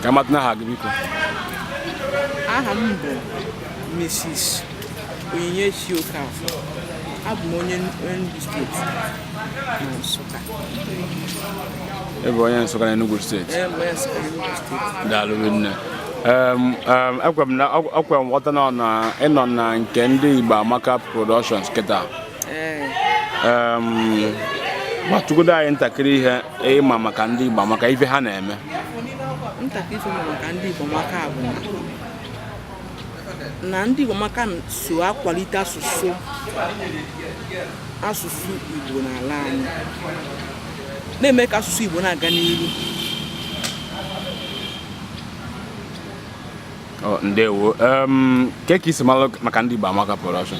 ka m matanụ aha gị biko aha m bụ Mrs. Onyinyechi Okafor abụ m onye Enugu steeti na Nsụka ebe onye Nsụka na Enugu steeti daalụ nne ekwe m na ọkwa m ghọta na na ị nọ na nke ndị Igbo Amaka Productions kịta gwatụgodo anyị ntakịrị ihe ị ma maka ndị Igbo Amaka ife ha na-eme ntakịrị ife m ma maka ndị Igbo Amaka bụ na ndị Igbo Amaka so akwalite asụsụ asụsụ Igbo n'ala anyị na-eme ka asụsụ Igbo na-aga n'ihu ndewo kee ka i si malụ maka ndị Igbo Amaka production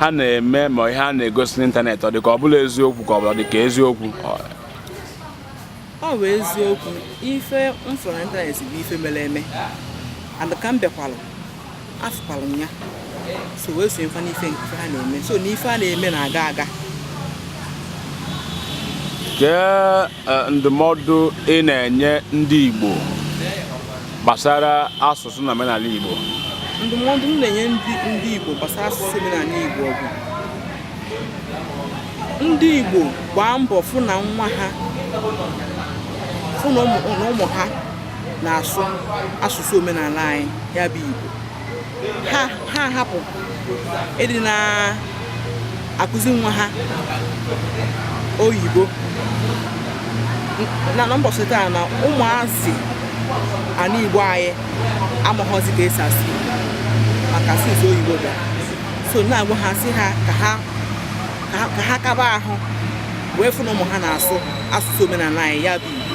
ha na-eme ma ihe a na-egosi n'ịntanetị ọ dị ka ọ bụla eziokwu ka ọ bụla dị ka eziokwu ọ bụ eziokwu ife m fụrụ n'ịntanetị bụ ife mere eme and ka m bịakwalụ afụkwalụ m ya so wee sonyekwa n'ife nke ha na-eme so na ife ha na-eme na-aga aga Kee ndụmọdụ ị na-enye ndị Igbo gbasara asụsụ na omenala Igbo ndụmọdụ m na-enye ndị Igbo gbasara asụsụ omenala Igbo bụ ndị Igbo gbaa mbọ fụ na nwa ha fụ na ụmụ ha na-asụ asụsụ omenala anyị ya bụ Igbo ha hapụ ịdị na-akụzi nwa ha oyibo na na mbọsị taa na ụmụazị ana igbo anyị amaghọzi ka e si asụ maka asụsụ oyibo bịa so na-agwa ha sị ha ka ha ka ha kaba ahụ wee fụ na ụmụ ha na-asụ asụsụ omenala anyị ya bụ igbo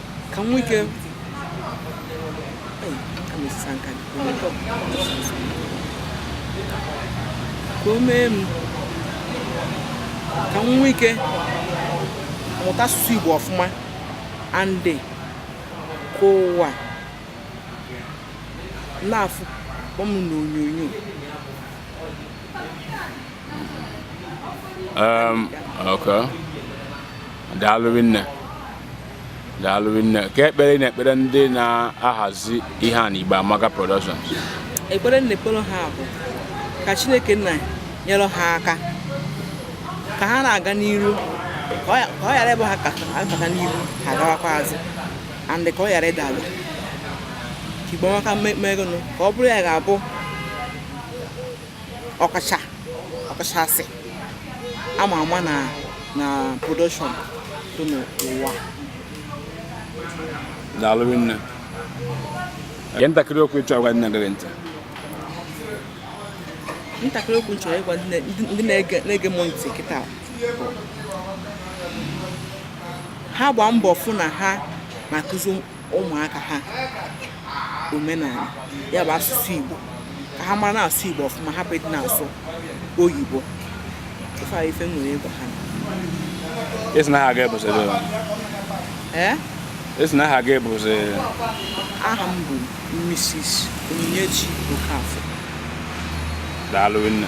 ka m nwee ike ka o mee m ka m nwee ike mụta asụsụ Igbo ọfụma and ka ụwa na-afụ m n'onyonyo um, okay. daalụ nne daalụ nne kee ekpere ị na-ekpere ndị na-ahazi ihe a na Igbo Amaka Productions ekpere m na-ekpere ha bụ ka Chineke nna nyere ha aka ka ha na-aga n'iru ka ọ ghara ịbụ ha gabata n'iru ha agawakwa azụ and ka ọ ghara ịda ala ka Igbo Amaka megonụ ka ọ bụrụ ya ga-abụ ọkacha ọkachasị ama ama na na production dị n'ụwa daalụ nne Kee ntakịrị okwu ị chọrọ ịgwa ndị na-ege gị ntị. ntakịrị okwu nchọrọ ịgwa ndị na- ndị- ndị na-ege na-ege m ntị kịta bụ, ha gbaa mbọ fụ na ha na-akụzi ụmụaka ha omenala ya bụ asụsụ Igbo ka ha mara na-asụ Igbo ọfụma hapụ ịdị na-asụ oyibo ife a ife m nwere ịgwa ha ị sị na aha gị bụzi ee ị sị na aha gị bụzi aha m bụ Mrs. Onyinyechi Okafor daalụ nne